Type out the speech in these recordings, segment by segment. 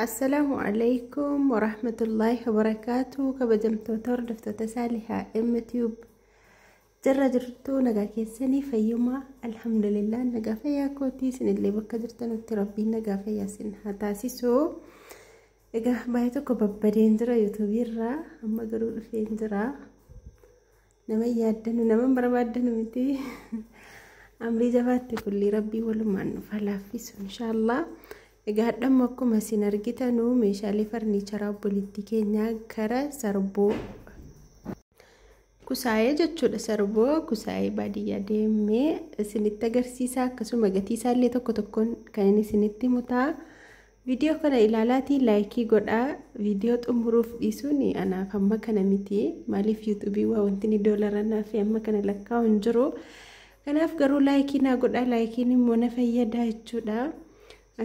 Assalaamu alaikum warahmatullaahi wabarakaatu kabajamtoota hordoftoota saalihaa MTube jirra jirtu nagaa keessanii fayyumaa alhamdulillah nagaa fayyaa kootii isinillee bakka jirtanutti rabbiin nagaa fayyaa isin haa taasisu egaa baay'ee tokko babbadeen jira yuutuubiirraa amma garuu dhufeen jira nama hin yaaddanu nama hin barbaaddanu miti amrii jabaatti kullii rabbii walumaan nuuf haa laaffisu inshaallah egaa hadhamma akkuma isin argitanu meeshaalee farniicharaa obboleettii keenyaa gara sarboo kusaayee jechuudha sarboo kusaayee baadiyyaa deemee isinitti agarsiisaa akkasuma gatii isaallee tokko tokkoon kan inni isinitti mutaa Video kana ilaalaatii laayikii godhaa video xumuruuf dhiisuun anaaf amma kana miti maaliif yuutuubii waa wantini doolara naaf amma kana lakkaa'u hin jiru kanaaf garuu laayikii naa godhaa laayikiin immoo na fayyadaa jechuudha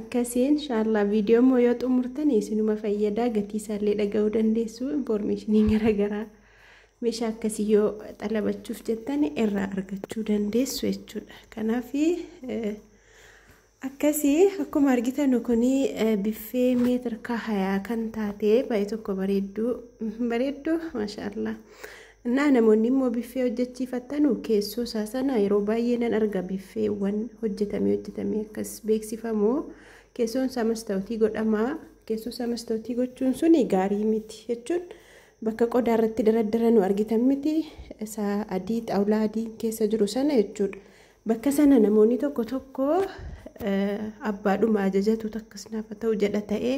akkasii inshaallah video immoo yoo xumurtan isinuma fayyadaa gatii isaallee dhaga'uu dandeessu infoormeeshinii garaagaraa meeshaa akkasii yoo xalabachuuf jettan irraa argachuu dandeessu jechuudha kanaaf Akkasi akkuma argitanu kun biffee meetir kaahayaa kan taate baay'ee tokko bareedduu bareedduu maashaallah. Innaa namoonni immoo biffee hojjechiifattanu keessoo isaa sana yeroo baay'ee nan arga biffeewwan hojjetamee hojjetamee akkas beeksifamu keessoon isaa mastawutii godhama keessoo isaa mastawutii gochuun suni gaarii miti jechuun bakka qodaa irratti daraddara nu argitan miti isaa adii xaawulaa adii keessa jiru sana jechuudha. Bakka sana namoonni tokko tokko abbaadhuma ajajatu takkas naaf haa ta'u jedha ta'ee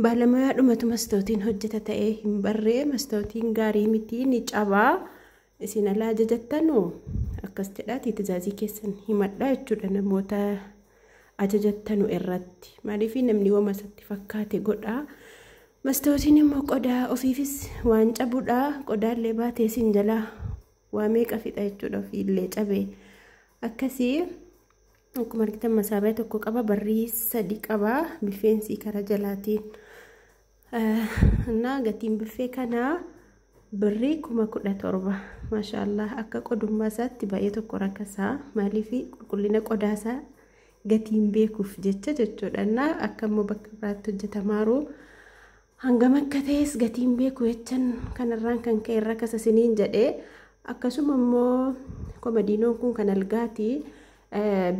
baalamuyaadhumatu mastootiin hojjeta ta'ee hin barree mastootiin gaarii miti ni cabaa isin ala ajajattanu akkas jedhaatii tizaazii keessan himadhaa jechuudha namoota ajajattanu irratti maaliif namni wama isatti fakkaate godhaa. Mastootiin immoo qodaa ofiifis waan cabudha qodaallee baatee isin jalaa waa meeqa fixa jechuudha ofiillee cabee akkasii akkuma argitan masaabaa tokko qaba barrii sadi qaba biffeensii karaa jalaatiin innaa gatiin biffee kanaa birrii kuma kudha torba maashaallah akka qodummaa isaatti baay'ee tokko rakkasaa maaliif qulqullina qodaa isaa gatiin beekuuf jecha jechuudha innaa akka immoo bakka biraatti hojjetamaaru Hangam akka ta'es gatii hin beeku jechan kanarraan kan ka'e rakasa siniin jedhe. Akkasuma immoo komadiinoon kun kan algaati.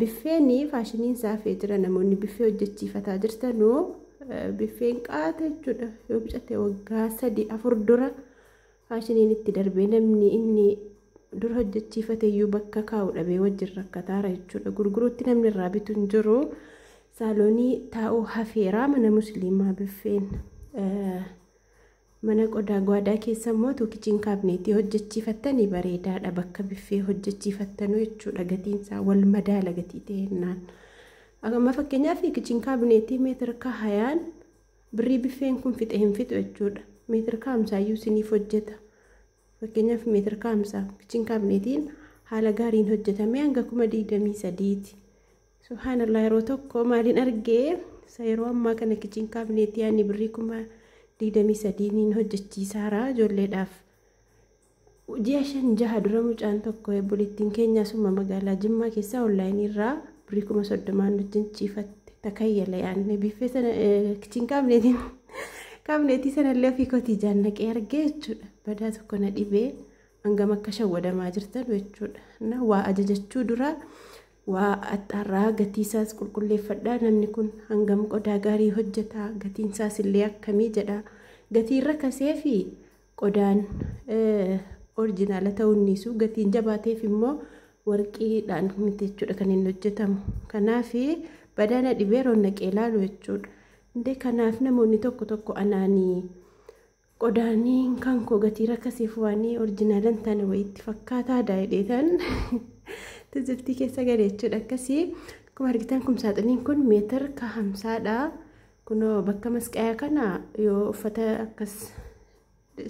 Biffeen faashiniin isaa hafee jira namoonni biffee hojjechiifataa jirtanu biffeen qaata jechuudha yoo bicate waggaa sadii afur dura Faashiniin itti darbee namni inni dur hojjechiifateyyuu bakka kaa'u dhabee wajjin rakkataara jechuudha. Gurguruutti namni irraa bitu hin jiru. Saaloonii taa'uu hafeera mana musliimaa biffeen. Mana qodaa gwaadaa keessa immoo tuukichiin kaabneetii hojjechiifattanii bareedaadha bakka biffee hojjechiifattanuu jechuudha gatiinsaa wal madaala gatii ta'ennaan. Amma fakkeenyaaf kichiin kaabineetii meetira kahayaan Birrii biffeen kun fixe hin fixu jechuudha. Meetir kaa'umsaa iyyuu isiniif hojjeta. Fakkeenyaaf meetir kaa'umsaa kichiin kaabineetiin haala gaariin hojjetamee hanga kuma digdamii sadiiti. Subhaanallah yeroo tokko maaliin argee isa yeroo ammaa kana kichiin kaabineetii ani birrii kuma digdamii sadiiniin hojjechiisaara ijoolleedhaaf. Ji'a shan jaha dura mucaan tokko obboleettiin keenya asuma magaalaa Jimmaa keessaa onlaayinii irraa birrii kuma soddomaan wajjin ciifatte takayyala yaadne biiffee sana kichiin kaabneetiin kaabneetii sanallee ofii kotii jaannaqee argee jechuudha. Badaa tokko na dhibee hangam akka shawwadamaa jirtan jechuudha. Na waa ajajachuu dura waa axxaarraa gatii isaas qulqulleeffadhaa namni kun hangam qodaa gaarii hojjetaa gatiin isaas illee akkamii jedhaa gatii irra kasee fi Qodaan orijinaala ta'uun dhiisuu gatiin jabaateef immoo warqiidhaan miti jechuudha kan inni hojjetamu. Kanaaf badaa na dhibee roon naqee ilaalu jechuudha. Indee kanaaf namoonni tokko tokko anaanii qodaanii kan koo gatii rakkasiif waanii orijinaala hin taane wayiitti fakkaataa daa'idheetan tiziltii keessa gale jechuudha akkasii. Akkuma argitan kumsaaxiniin kun meetir ka hamsaadha. Kunoo bakka masqayaa kana yoo uffata akkas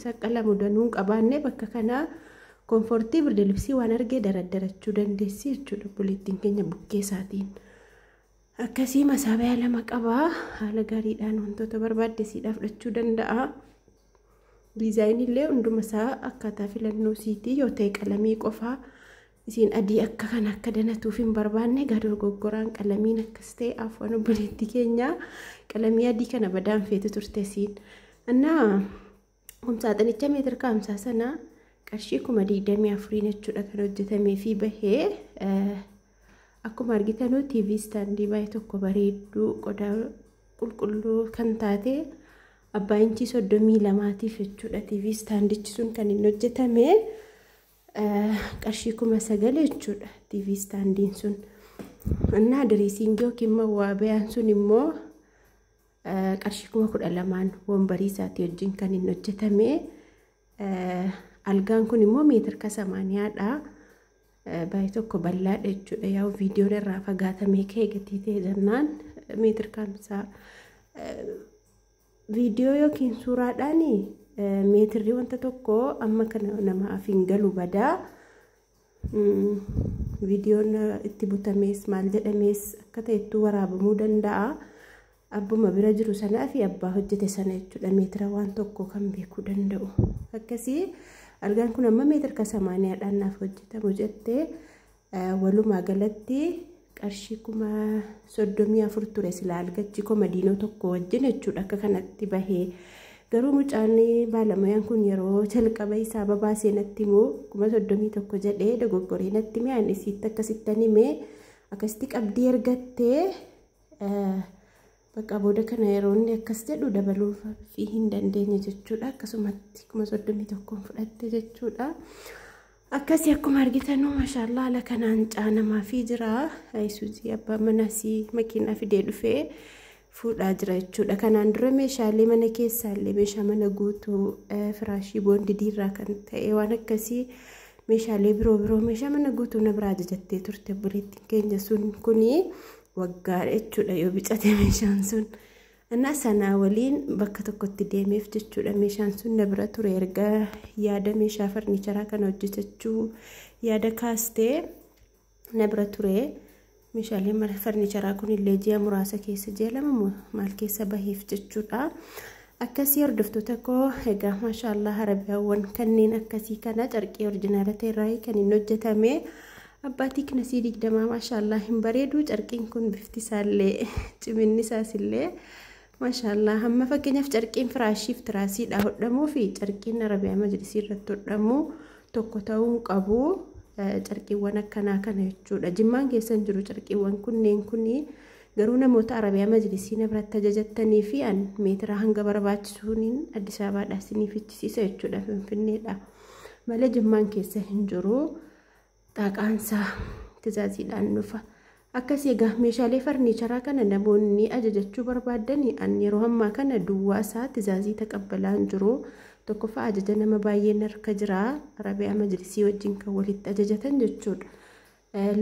saqqalamu danuu hin qabaanne bakka kanaa koonfortii birda libsii waan argee daraddarachuu dandeessi jechuudha obboleettiin keenya bukkee isaatiin. Akkasii masaabayaa lama qabaa haala gaariidhaan wantoota barbaaddesiidhaa fudhachuu danda'a. Diizaayinillee hunduma isaa akkaataa filannoo siitii yoo ta'e qalamii qofaa Isiin adii akka kana akka danatuuf hin barbaanne egaa dorgoggoraan qalamiin akkas ta'e afwan obboleetti keenya qalamii adii kana badaan feetu turte isiin. Annaa kumsaaxinicha meetir kaamsaa sana qarshii kuma digdamii afuriin jechuudha kan hojjetamee fi bahee akkuma argitanuu TV istaandii baay'ee tokko bareedduu qodaa qulqulluu kan taate abbaa inchii soddomii lamaatiif jechuudha TV istaandichi sun kan hin hojjetame. qarshii kuma sagal jechuudha tiivii istaandiin sun innaa diriisiingii yookiin mawwaabiyaan sun immoo qarshii kuma kudha lamaan wombarii isaatii wajjin kan hin hojjetame algaan kun immoo meetir ka samaaniyaadha baay'ee tokko bal'aadha jechuudha yaa'u viidiyoon irraa fagaatamee ka'e gatii ta'e jennaan meetir kamsaa Viidiyoo yookiin suuraadhaan meetirri wanta tokko amma kana namaaf hin galu badaa. Viidiyoon itti butamees maal jedhamees akka ta'ettu waraabamuu danda'a. Abbuma bira jiru sanaa fi abbaa hojjete sana jechuudha meetira waan tokko kan beekuu danda'u. Akkasii algaan kun amma meetirka samaaniyaadhaan naaf hojjetamu jettee Walumaa galatti qarshii kuma soddomii afur ture silaa algachi komadiinoo tokko wajjin jechuudha akka kanatti bahee garuu mucaan baalamayaan kun yeroo jalqaba isaa babaasee natti immoo kuma soddomii tokko jedhee dogoggoree natti mee ani isiitti akkasittan himee akkasitti qabdii ergattee bakka booda kana yeroo inni akkas jedhu dabaluuf fi hin dandeenye jechuudha akkasumatti kuma soddomii tokkoon fudhatte jechuudha. akkasi akkuma argitanuu mashaallaa ala kanaan caanamaafii jira ayisuuzii abbaa manaasii makiinaa fidee dhufee fuudhaa jira jechuudha kanaan dura meeshaalee mana keessaallee meeshaa mana guutuu firaashii boondidiirraa kan ta'e waan akkasii meeshaalee biroo biroo meeshaa mana guutuu na biraa ajajattee turte buleettiin keenya sun kuni waggaadha jechuudha yoo bicate meeshaan sun Ana sanaa waliin bakka tokkotti deemeef jechuudha meeshaan sun na bira ture erga yaada meeshaa farniicharaa kana hojjetachuu yaada kaastee na bira ture meeshaalee mara farniicharaa kun illee ji'a muraasa keessa ji'a lama moo maal keessa baheef jechuudha. Akkasii hordoftoota koo egaa maashaallah harabiyaawwan kanneen akkasii kana carqii orjinaala ta'erraa kan hin hojjetame Abbaatii kinasii digdamaa maashaallah hin bareedu carqiin kun bifti isaallee ciminni isaas illee maashaallah hamma fakkeenyaaf carqiin firaashiif tiraasiidha hodhamuu fi carqiin arabiyaa majlisii irratti hodhamu tokko ta'uu hin qabu carqiiwwan akkanaa kana jechuudha jimmaan keessan jiru carqiiwwan kunneen kuni garuu namoota arabiyaa majlisii nabratti ajajattanii fi an meetiraa hanga barbaachisuuniin addis ababaadhaa isiniif ichisiisa jechuudha finfinneedha malee jimmaan keessa hin jiru. Xaaqaansaa tizaaziidhaan dhufa. Akkasi egaa meeshaalee farniicharaa kana namoonni ajajachuu barbaaddani an yeroo ammaa kana duwwaa isaa tizaazii taqabbalaan jiru tokkoffaa ajaja nama baay'een harka jira rabiyaa majlisii wajjin kan walitti ajajatan jechuudha.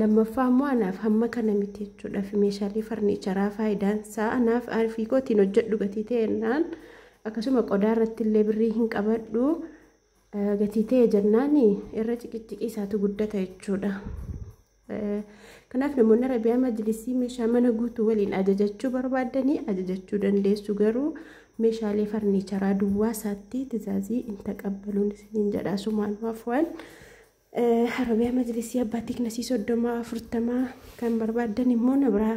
Lammaffaa immoo anaaf hamma kana miti jechuudha fi meeshaalee farniicharaa faayidaan isaa anaaf arfii kootiin hojjedhu gatii ta'ennaan akkasuma qodaa irratti illee birrii hin qabadhu Gatii ta'e jennaan irra ciqiciqii isaatu guddata jechuudha. Kanaaf namoonni Arabiyaa majlisii meeshaa mana guutuu waliin ajajachuu barbaadanii ajajachuu dandeessu garuu meeshaalee farniicharaa duwwaa isaatti tizaazii hin taqabbaluun isiniin jedha sumaan waafwaan. Arabiyaa majlisii abbaa tiknasii soddomaa afurtamaa kan barbaaddan immoo na biraa